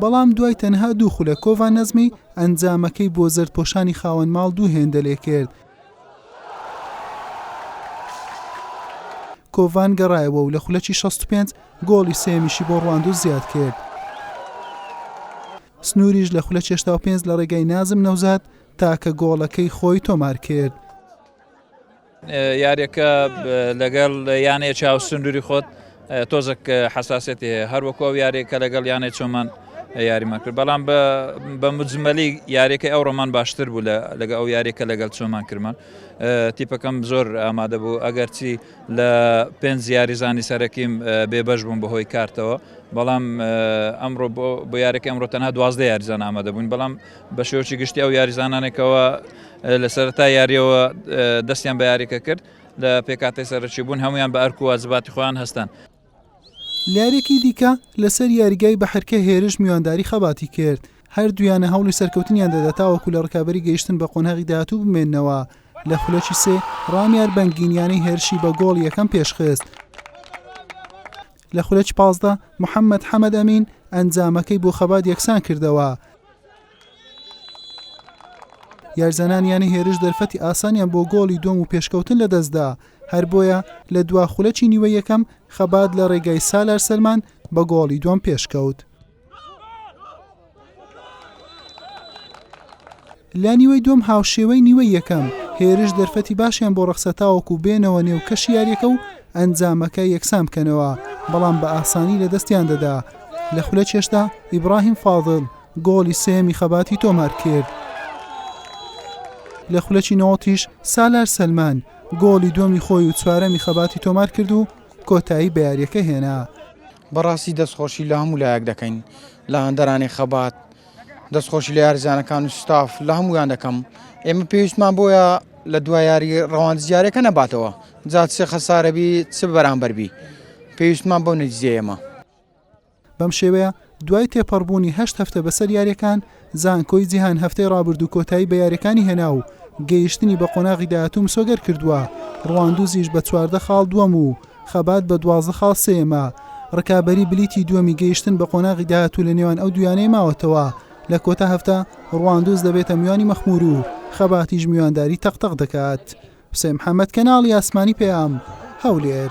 بەڵام دوای تەنها دوو خولەک کۆڤا نەزمی ئەنجامەکەی بۆ زەردپۆشانی خاوەن ماڵ دوو هێندە لێکرد. کۆڤان گەڕایەوە و لە خولەکی شەست و پێنج گۆڵی سێیەمیشی بۆ ڕواندوو زیادکرد. سنووریش لە خولەکی هەشتا و پێنج لە ڕێگای نازم نەوزاد تاکە گۆڵەکەی خۆی تۆمارکرد. یاریەکە لەگەڵ یانەیە چاو سندوری خۆت تۆزەک حساسێتی هەیە هەروەکو ئەو یاریە کە لەگەڵ یانەی چۆمان یاریمان کرد بەڵام بە مجممەلی یاریەکە ئەو ڕۆمان باشتر بوو لەگە ئەو یاریەکە لەگەڵ چۆمان کرمان تیپەکەم زۆر ئامادە بوو ئەگەرچی لە پێنج یاریزانی سەرەکیم بێبەش بووم بەهۆی کارتەوە بەڵام ئەمڕۆ بۆ یاریەکە ئەمڕۆ تەنها دوازدە یاریزان ئامادە بوون بەڵام بە شێوەکی گشتی ئەو یاریزانانێک کەوا لە سەرەتای یارییەوە دەستیان بە یارییەکە کرد لە پێکهاتەی سەرەکی بوون هەمویان بە ئەرک و واجباتی خۆیان هەستان. لە یارییەکی دیکە لەسەر یاریگای بەحرکە هێرش میوانداری خەباتی کرد، هەردوویانە هەوڵی سەرکەوتنیان دەدا تاوەکو لە رکابەری گەیشتن بە قۆناغی داهاتوو بمێننەوە، لە خولەکی سێ رامیار بەنگین یانەی هێرشی بە گۆڵی یەکەم پێشخست. لە خولەکی پازدە محەمەد حەمەد ئەمین ئەنجامەکەی بۆ خەبات یەکسان کردەوە. یارزانانی یانەی هێرش دەرفەتی ئاسانیان بۆ گۆڵی دووەم و پێشکەوتن لەدەستدا، هەر بۆیە لە دوا خولەکی نیوەی یەکەم خەبات لە رێگای سالار سەلمان بە گۆڵی دووەم پێشکەوت. لە نیوەی دووەم هاوشێوەی نیوەی یەکەم هێرش دەرفەتی باشیان بۆ ڕەخسا تاوەکو بێنەوە نێو کەشی یاریەکە و ئەنجامەکە یەکسان بکەنەوە بەڵام بە ئاسانی لە دەستیان دەدا لە خولە چێشتا ئیبراهیم فاضل گۆڵی سێمی خەباتی تۆمار کرد لە خولەکی نەوەتیش سالار سلمان گۆڵی دومی خۆی و چوارەمی خەباتی تۆمار کرد و کۆتایی بە یاریەکە هێنا بەڕاستی دەست خۆشی لە هەموو لایەک دەکەین لە هەندەرانی خەبات دەست خۆشی لە یارزانەکان و ستاف لە هەمویان دەکەم ئێمە پێویستمان بۆیە لە دو یاری ڕەوانزیارەکە نەباتەوە جات سێ خەسارەبی چ بەرامبەربی پێویستمان بۆ نەجزێمە. بەم شێوەیە دوای تێپەڕبوونی هەشت هەفتە بەسەر یارییەکان، زانکۆی جیهان هەفتەی ڕابردوو کۆتایی بە یاریەکانی هێنا و گەیشتنی بە قۆناغی داهاتوو مسۆگەر کردووە، ڕواندوزیش بە چواردە خاڵ دووەم و خەبات بە دوازدە خاڵ سێیەمە، ڕکابەری بلیتی دووەمی گەیشتن بە قۆناغی داهاتوو لە نێوان ئەو دوو یانەیە ماوەتەوە، لە کۆتا هەفتە ڕواندوز دەبێتە میوانی مەخمور و خەباتیش میوانداری تەق تەق دەکات. حوسێن محەمەد، کەناڵی ئاسمانی پەیام، هەولێر.